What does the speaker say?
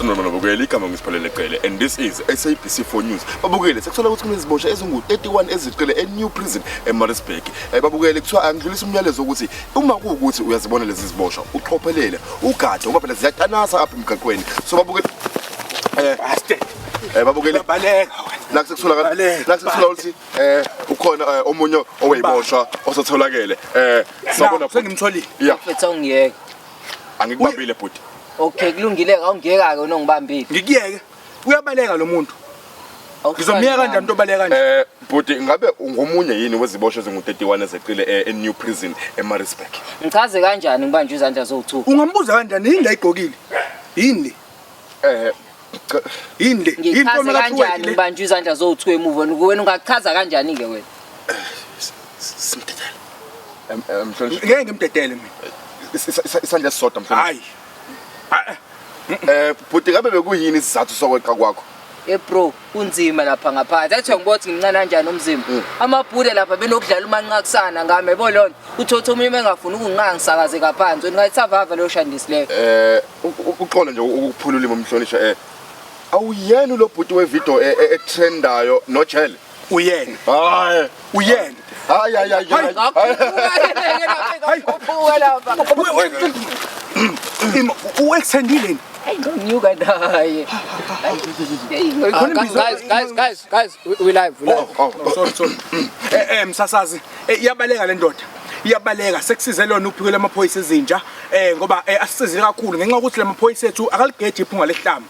Nomana Bukele igama ngisiphalele Cele and this is SABC 4 News. Babukele sekuthola ukuthi kunezibosha ezingu-31 ezicele e-New Prison eMaritzburg. Eh, babukele kuthiwa angidlulisa umyalezo wokuthi uma kuwukuthi uyazibona lezi ziboshwa uqophelele ugade ngoba phela ziyatanasa apha emgaqweni. So babukele Eh, Baste. eh babukeli. Baleka. Naku sekuthola ka Baleka. naku sekuthola ukuthi eh ukhona eh, omunye oweyiboshwa osatholakele. Eh sabona Naku, sengimtholile. Yeah, Mfethu awungiyeke. angikubambile bhuti. Okay kulungile ke awungiyeka ke unongibambile. Ngikuyeke. Uyabaleka lo muntu. Ngizomyeka kanjani umuntu obaleka kanje? Eh bhuti ngabe ungomunye yini weziboshwa ezingu-31 ezeqile eh, e-New Prison eMaritzburg? Ngichaze kanjani ngibanje izandla zowu2? Ungambuza kanjani yini la igqokile? Yini le? Eh yini le? Yini ngichaze kanjani kanjani ubanjwa izandla zowu-two emuva wena wena ungachaza kanjani-ke wena Simdedele. Em- em, Mhlonishwa. Ngeke ngimdedele mina. Is- is- is- Isandla esisodwa mhlonishwa. Hayi. Eh bhuti ngabe bekuyini isizathu sokweqa kwakho? Hey bro, kunzima lapha ngaphansi. Athi ngibo ukuthi ngimncane kanjani umzimba. Mm. Amabhule lapha benokudlala umanqakusana ngami yabo lona. Uthotha umunye engafuni ukunqanga sakaze kaphansi. Ngathi savava leyo shandisi leyo. Eh, uqola nje ukuphula ulimi umhlonishwa eh. Awuyena lo bhuti we video e, e, e trendayo no Jelle. uyena hayi uyena hayi hayi hayi hayi hayi uextendile ngonyuka naye guys guys guys guys we live we live oh, oh. sorry sorry eh eh msasazi eh, iyabaleka le ndoda iyabaleka sekusize lona uphiko lamaphoyisa ezinja eh ngoba eh, asisizile kakhulu ngenxa ukuthi lamaphoyisa ethu akaligeje iphunga lehlamba